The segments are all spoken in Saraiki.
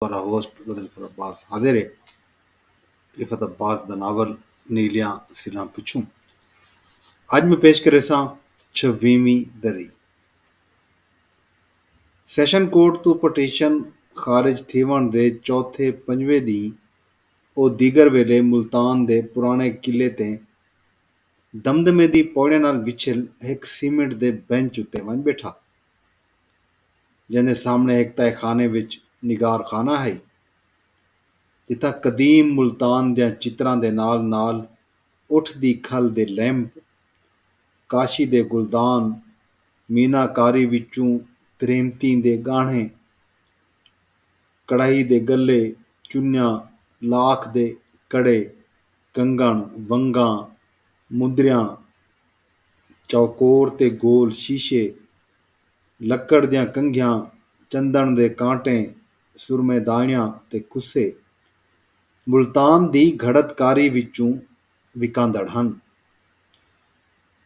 شورا ہوسٹ مظفر عباس حاضر ہے عفت عباس دا ناول نیلیاں سلاں پچھوں اج میں پیش کرے ساں چھویویں دری سیشن کورٹ تو پٹیشن خارج تھیون دے چوتھے پنجویں ڈی او دیگر ویلے ملتان دے پرانے قلعے تے دمدمے دی پوڑیاں نال وچھل ہک سیمنٹ دے بینچ اتے ونج بیٹھا جیندے سامنے ہک تہہ خانے وچ نگار خانہ ہئی جتھاں قدیم ملتان دیاں چتراں دے نال نال اٹھ دی کھل دے لیمپ، کاشی دے گلدان، مینا کاری وچوں تریمتیں دے ڳاہݨے، کڑاہی دے ڳلے، چنیاں، لاکھ دے کڑے، کنگݨ، ونگاں، مندریاں، چوکور تے گول شیشے، لکڑ دیاں کنگھیاں، چندݨ دے کانٹے، سرمے داݨیاں تے کسے ملتان دی گھڑت کاری وچوں وکاندڑ ہن۔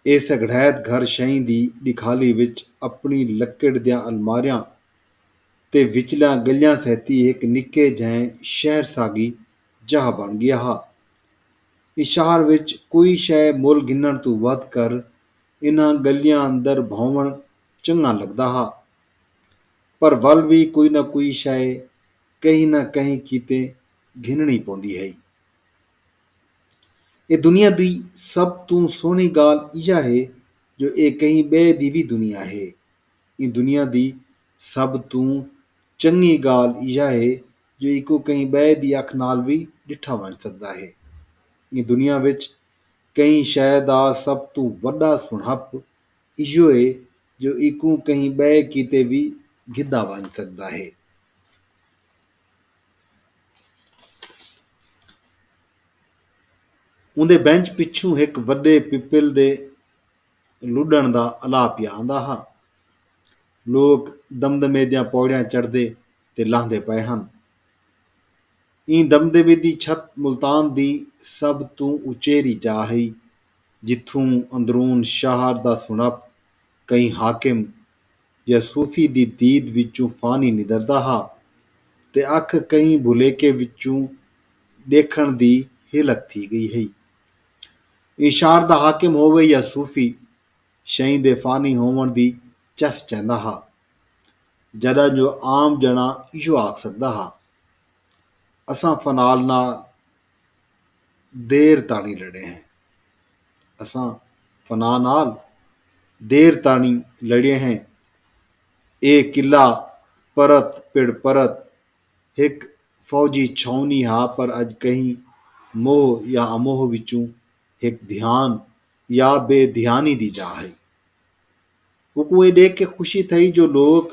ایہ سگھڑیت گھر شئیں دی ݙکھالی وچ اپݨی لکڑ دیاں الماریاں تے وچلیاں ڳلیاں سیتی ہک نکے جہیں شہر ساڳی جاہ بݨ ڳیا ہا۔ ایں شہر وچ کوئی شئے مل گھنݨ توں ودھ کر انہاں ڳلیاں اندر بھونوݨ چنڳاں لڳدا ہا پر ول وی کوئی نہ کوئی شئے کہیں نہ کہیں کیتے گھنݨی پوندی ہئی۔ اے دنیا دی سب توں سوہݨی ڳالھ ایہا ہے جو اے کہیں ٻئے دی وی دنیا ہے۔ ایں دنیا دی سب توں چنڳی ڳالھ ایہا ہے جو ایکوں کہیں ٻئے دی اکھ نال وی ݙٹھا ونڄ سڳدا ہے۔ ایں دنیا وچ کہیں شئے دا سب توں وݙا سݨہپ ایہو ہے جو ایکوں کہیں ٻئے کیتے وی گھدا ونڄ سڳدا ہے۔ اوندے بینچ پچھوں ہک وݙے پپل دے لݙݨ دا الا پیا آندا ہا۔ لوک دمدمے دیاں پوڑیاں چڑھدے تے لہندے پئے ہن۔ ایں دمدمی دی چھت ملتان دی سب توں اچیری جا ہئی جتھوں اندرون شہر دا سنڑپ کہیں حاکم یا صوفی دی دید وچوں فانی ندردا ہا تے اکھ کہیں بھلیکے وچوں ڈیکھنڑ دی ہلک تھی گئی ہئی۔ ایں شہر دا حاکم ہووے یا صوفی شئیں دے فانی ہوونڑ دی چس چہندا ہا جڈاں جو عام جنڑا ایہو آکھ سگدا ہا۔ اساں فنال نال دیر تاݨی لڑے ہیں اساں فنا نال دیر تاݨی لڑے ہیں اے قلعہ پرت پڑ پرت ہک فوجی چھاؤنی ہا پر اج کہیں موہ یا اموہ وچوں ہک دھیان یا بے دھیانی دی جاہ ہئی اوکوں اے ݙیکھ کے خوشی تھئی جو لوک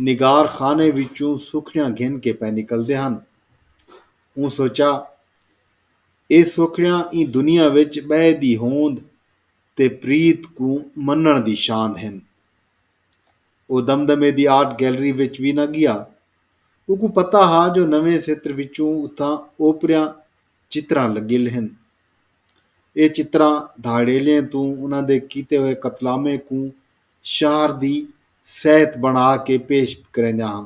نگار خانے وچوں سوکھڑیاں گھن کے پئے نکلدے ہن۔ اوں سوچا اے سوکھڑیاں ایں دنیا وچ ٻئے دی ہوند تے پریت کوں منݨ دی شاند ہن۔ او دمدمے دی آرٹ گیلری وچ وی نہ ڳیا۔ اوکوں پتہ ہا جو نویں ستر وچوں اتھاں اوپریاں چتراں لڳل ہن۔ ایہ چتراں دھاڑیلیاں توں انہاں دے کیتے ہوئے قتلامیں کوں شہر دی سہت بنا کے پیش کریندیاں ہن۔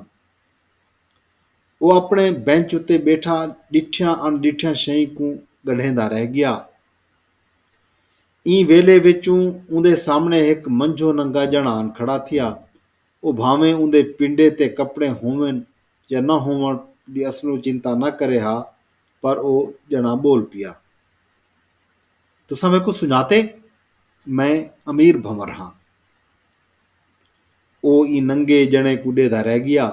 او اپݨے بینچ اتے ٻیٹھا ݙٹھیاں اݨ ݙٹھیاں شئیں کوں ڳݙھیندا رہ ڳیا۔ ایں ویلھے وچوں اوندے سامݨے ہک منجھو ننگا ڄݨ آن کھڑا تھیا۔ او بھانویں اوندے پنڈے تے کپڑے ہوون یا نہ ہوون دی اصلوں چنتا نہ کرے ہا، پر او ڄݨاں ٻول پیا۔ تساں میکوں سنڄاتے؟ میں امیر بھنور ہاں۔ او ایں ننگے ڄݨے کوں ݙیہدا رہ ڳیا۔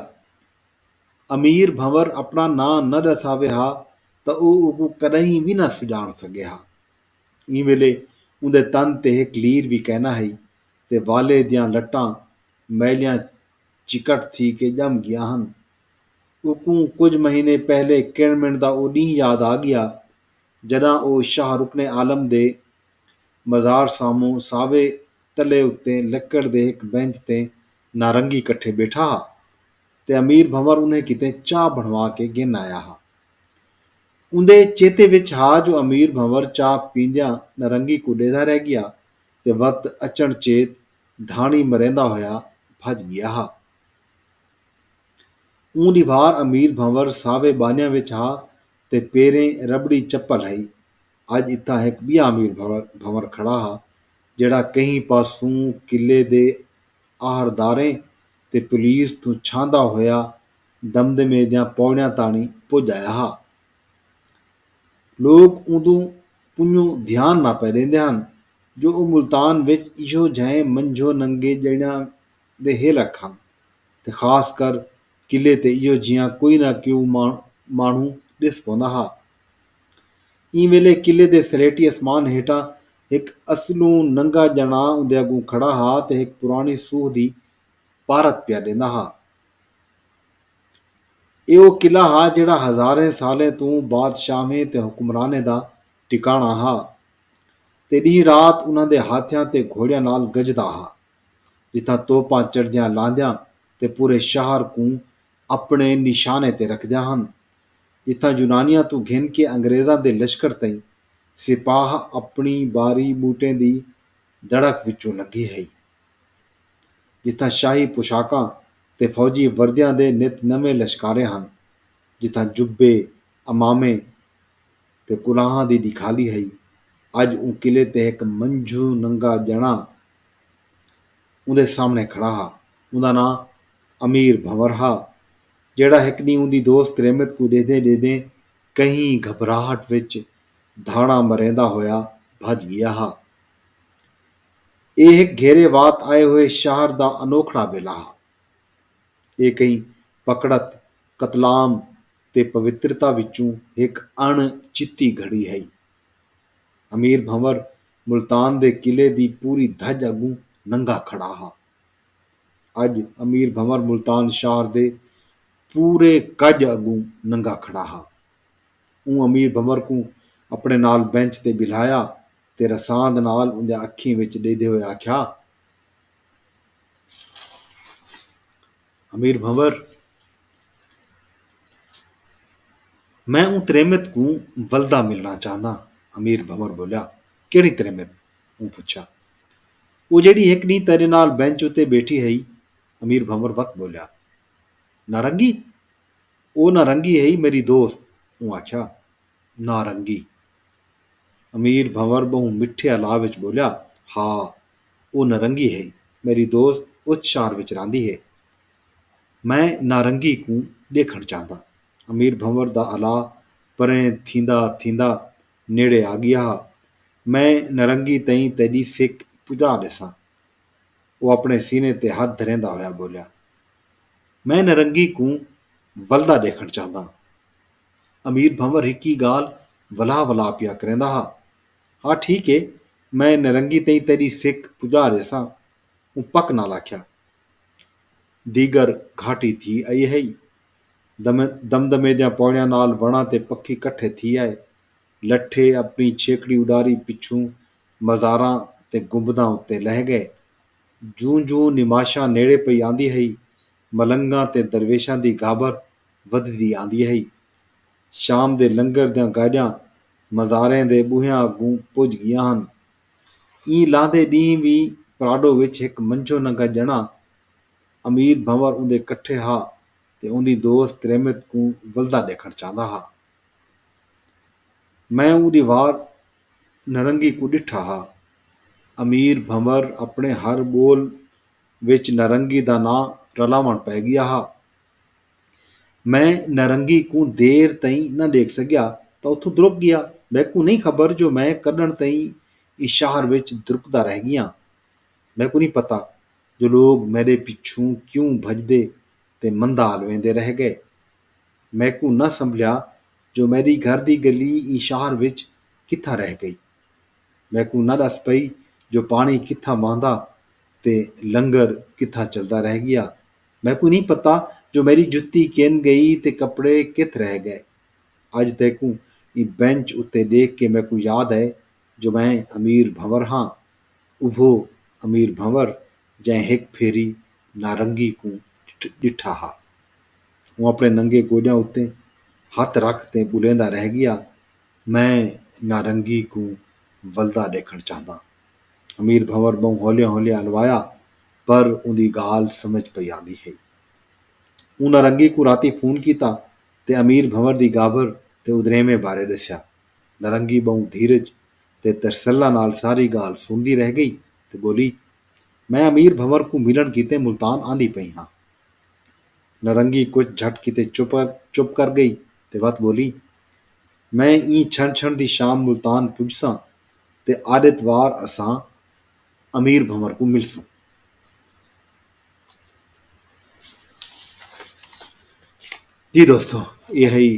امیر بھنور اپݨا ناں نہ ݙس آوے ہا تاں او اوکوں کݙاہیں وی نہ سنڄاݨ سڳے ہا۔ ایں ویلے اوندے تن تے ہک لیر وی کائناں ہئی تے والے دیاں لٹاں میلیاں چکٹ تھی کے ڄم ڳیاں ہن اوکوں کجھ مہینے پہلے کݨ مݨ دا او ݙینہہ یاد آ ڳیا جݙاں او شاہ رکن عالم دے مزار ساموں ساوے تلے اتے لکڑ دے ہک بینچ تے نارنگی کٹھے ٻیٹھا ہا تے امیر بھنور انھیں کیتے چاہ بݨوا کے گھن آیا ہا۔ اوندے چیتے وچ ہا جو امیر بھنور چاہ پیندیاں نارنگی کوں ݙیہدا رہ ڳیا تے وت اچݨ چیت دھاݨی مریندا ہویا بھڄ ڳیا ہا۔ اوں دی وھار امیر بھنور ساوے ٻانھیاں وچ ہا تے پیریں رٻڑی چپل ہئی۔ اڄ اتھاں ہک ٻیا امیر بھنور کھڑا ہا جیڑھا کہیں پاسوں قلعے دے آھرداریں تے پولیس توں چھاندا ہویا دمدمے دیاں پوڑیاں تاݨی پڄ آیا ہا۔ لوک اوندوں پنجوں دھیان نہ پئے ݙیندے ہن جو او ملتان وچ ایہو جھئیں منجھو ننگے ڄݨیاں دے ہیلک ہن تے خاص کر قلعے تے ایہو جیہاں کوئی نہ کیوں ماݨہوں ݙس پوندا ہا۔ ایں ویلے قلعے دے سلیٹی اسمان ہیٹھاں ہک اصلوں ننگا ڄݨاں اوندے اڳوں کھڑا ہا تے ہک پراݨی سوہ دی پارت پیا ݙیندا ہا۔ ایہ او قلعہ ہا جیہڑا ہزاریں سالیں توں بادشاہویں تے حکمرانیں دا ٹکاݨاں ہا تے ݙینہہ رات انہاں دے ہاتھیاں تے گھوڑیاں نال گجدا ہا۔ جتھاں توپاں چڑھدیاں لاندیاں تے پورے شہر کوں اپنڑے نشانے تے رکھدیاں ہن۔ جتھاں یونانیاں توں گھن کے انگریزاں دے لشکر تئیں سپاہ اپنڑی باری بوٹیں دی دڑک وچوں لنگھی ہئی۔ جتھاں شاہی پوشاکاں تے فوجی وردیاں دے نت نویں لشکارے ہن۔ جتھاں جبے، عمامے تے کلاہاں دی ڈکھالی ہئی۔ اج اوں قلعے تے ہک منجھوں ننگا جنڑا اوندے سامݨے کھڑا ہا۔ اوندا ناں امیر بھنور ہا جیڑھا ہک ݙینہہ اوندی دوست تریمت کوں ݙیہدیں ݙیہدیں کہیں گھبراہٹ وچ دھاڑاں مریندا ہویا بھڄ ڳیا ہا۔ ایہ ہک گھیرے وات آئے ہوئے شہر دا انوکھڑا ویلھا ہا۔ ایہ کہیں پکڑت، قتلام تے پوترتا وچوں ہک اݨ چتی گھڑی ہئی۔ امیر بھنور ملتان دے قلعے دی پوری دھڄ اڳوں ننگا کھڑا ہا۔ اڄ امیر بھنور ملتان شہر دے پورے کڄ اڳوں ننگا کھڑا ہا۔ اوں امیر بھنور کوں اپݨے نال بینچ تے ٻلھایا تے رساند نال اوندیاں اکھیں وچ ݙیہدے ہوئے آکھیا۔ امیر بھنور، میں اوں تریمت کوں ولدا ملنڑاں چاہنداں امیر بھنور بولیا، کیہڑی تریمت؟ اوں پچھیا۔ او جیہڑی ہک ڈینہہ تیڈے نال بینچ اتے بیٹھی ہئی امیر بھنور وت بولیا۔ نارنگی؟ او نارنگی ہئی میڈی دوست اوں آکھیا۔ نارنگی؟ امیر بھنور بہوں مٹھے الا وچ بولیا، ہا او نرنگی ہئی۔ میݙی دوست اچ شہر وچ رہندی ہے۔ میں نارنگی کوں ݙیکھݨ چاہندا۔ امیر بھنور دا الا پریں تھیندا تھیندا نیڑے آ ڳیا ہا۔ میں نرنگی تئیں تیݙی فک پڄا ݙیساں۔ او اپݨے سینے تے ہتھ دھریندا ہویا ٻولیا۔ میں نرنگی کوں ولدا ݙیکھݨ چاہنداں۔ امیر بھنور ہکی ڳالھ ولا ولا پیا کریندا ہا۔ ہا ٹھیک ہے میں نرنگی تئیں تیݙی سک پڄا ریساں اوں پک نال آکھیا۔ دیگر گھاٹی تھی آئی ہئی۔ دم دمے دیاں پوڑیاں نال وݨاں تے پکھی کٹھے تھی آئے۔ لٹھے اپݨی چھیکڑی اݙاری پچھوں مزاراں تے گنبداں اتے لہہ ڳئے۔ جوں جوں نماشاں نیڑے پئی آندی ہئی ملنگاں تے درویشاں دی گھابر ودھدی آندی ہئی۔ شام دے لنگر دیاں گاجاں مزاریں دے ٻوہیاں اڳوں پڄ ڳیاں ہن۔ ایں لاندھے ݙینہہ وی پراڈو وچ ہک منجھو ننگا ڄݨا امیر بھنور اوندے کٹھے ہا تے اوندی دوست تریمت کوں ولدا ݙیکھݨ چاہندا ہا۔ میں اوں ݙیوار نرنگی کوں ݙٹھا ہا۔ امیر بھنور اپݨے ہر ٻول وچ نرنگی دا ناں رلاوݨ پئے ڳیا ہا۔ میں نارنگی کوں دیر تئیں نہ ڈیکھ سگیا تاں اتھوں درک گیا۔ میکوں نئیں خبر جو میں کڈھݨ تئیں ایں شہر وچ درکدا رہ گیاں۔ میکوں نئیں پتہ جو لوک میڈے پچھوں کیوں بھڄدے تے مندال ویندے رہ گئے۔ میکوں نہ سنبھلیا جو میڈی گھر دی گلی ایں شہر وچ کتھاں رہ گئی۔ میکوں نہ ڈس پئی جو پاݨی کتھاں وہندا تے لنگر کتھاں چلدا رہ گیا۔ میکوں نی پتہ جو میڈی جتی کن گئی تے کپڑے کتھ رہ گئے۔ اج تیکوں ایں بینچ اتے ڈیکھ کے میکوں یاد اے جو میں امیر بھنور ہاں۔ اوہو امیر بھنور جئیں ہک پھیری نارنگی کوں ڈٹھا ہا۔ اوں اپنے ننگے گوڈیاں اتے ہتھ رکھ تے بلیندا رہ گیا میں نارنگی کوں ولدا ڈیکھن چاہنداں۔ امیر بھنور ٻہوں ہولیاں ہولیاں الوایا پر اوندی ڳالھ سمجھ پئی آندی ہئی۔ اوں نرنگی کوں راتی فون کیتا تے امیر بھنور دی ڳابھر تے ادریمے بارے ݙسیا۔ نرنگی ٻہوں دھیرج تے ترسلہ نال ساری ڳالھ سݨدی رہ ڳئی تے ٻولی، میں امیر بھنور کوں ملݨ کیتے ملتان آندی پئی ہاں۔ نرنگی کجھ جھٹ کیتے چپ کر ڳئی تے وت ٻولی، میں ایں چھنڑ چھنڑ دی شام ملتان پڄساں۔ تے آݙتوار اساں امیر بھنور کوں ملسوں۔ جی دوستو ایہ ہئی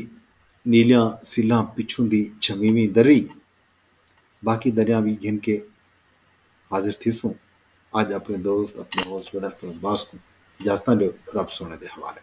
نیلیاں سلھاں پچھوں دی چھویویں دری۔ باقی دریاں وی گھن کے حاضر تھیسوں۔ اج اپنے دوست اپنے ہوس بدر فلم باز کوں اجازتاں ݙیو رب سونے دے حوالے۔